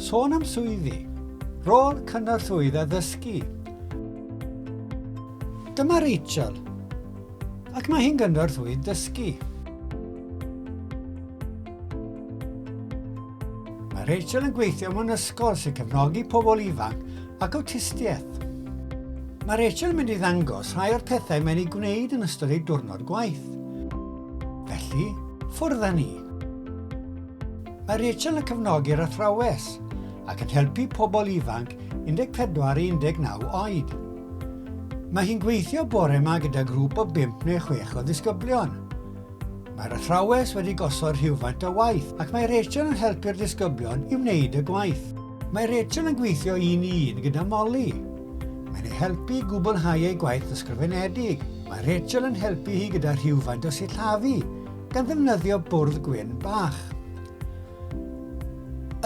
Sôn am swyddi, rôl cynorthwyydd addysgu. Dyma Rachel, ac mae hi'n gynorthwyydd dysgu. Mae Rachel yn gweithio mewn ysgol sy'n cefnogi pobl ifanc ac awtistiaeth. Mae Rachel yn mynd i ddangos rhai o'r pethau mae'n ei gwneud yn ystod ei diwrnod gwaith. Felly, ffwrdd â ni! Mae Rachel yn cefnogi'r athrawes ac yn helpu pobl ifanc 14 i 19 oed. Mae hi'n gweithio bore yma gyda grŵp o 5 neu 6 o ddisgyblion. Mae'r athrawes wedi gosod rhywfaint o waith ac mae Rachel yn helpu'r disgyblion i wneud y gwaith. Mae Rachel yn gweithio un i un gyda Molly. Mae'n ei helpu i gwblhau ei gwaith ysgrifenedig. Mae Rachel yn helpu hi gyda rhywfaint o sillafu gan ddefnyddio bwrdd gwyn bach.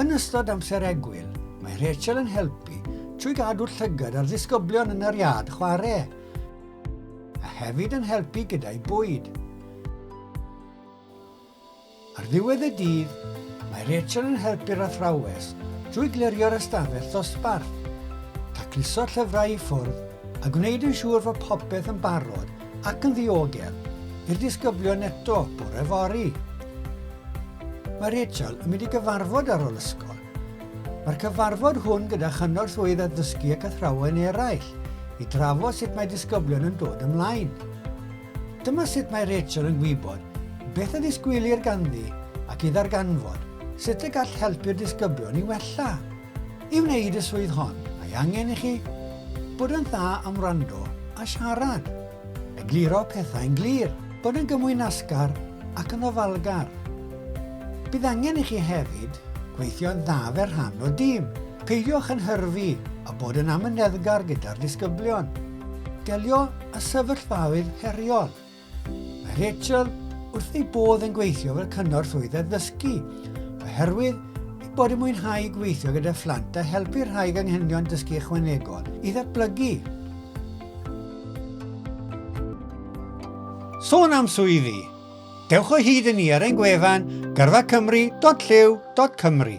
Yn ystod amser egwyl, mae Rachel yn helpu trwy gadw'r llygad a'r ddisgyblion yn yr iard chwarae, a hefyd yn helpu gyda'u bwyd. Ar ddiwedd y dydd, mae Rachel yn helpu'r athrawes drwy glirio'r ystafell ddosbarth, tacluso llyfrau i ffwrdd a gwneud yn siŵr fod popeth yn barod Ac yn ddiogel i'r disgyblion eto bore fory. Mae Rachel yn mynd i gyfarfod ar ôl ysgol. Mae'r cyfarfod hwn gyda chynorthwyydd addysgu ac athrawon eraill i drafod sut mae disgyblion yn dod ymlaen. Dyma sut mae Rachel yn gwybod beth a ddisgwylir ganddi ac i ddarganfod sut y gall helpu'r disgyblion i wella. I wneud y swydd hon, mae angen i chi bod yn dda am wrando a siarad, egluro pethau'n glir, bod yn gymwynasgar ac yn ofalgar. Bydd angen i chi hefyd gweithio'n dda fel rhan o dîm. Peidiwch yn hyrfi a bod yn amyneddgar gyda'r disgyblion. Delio â sefyllfaoedd heriol. Mae Rachel wrth ei bodd yn gweithio fel cyngor swydd addysgu oherwydd ei bod yn mwynhau gweithio gyda phlant a helpu rhai ganghenion dysgu ychwanegol i ddatblygu. Sôn am swyddi, dewch o hyd i ni ar ein gwefan gyrfacymru.llyw.cymru.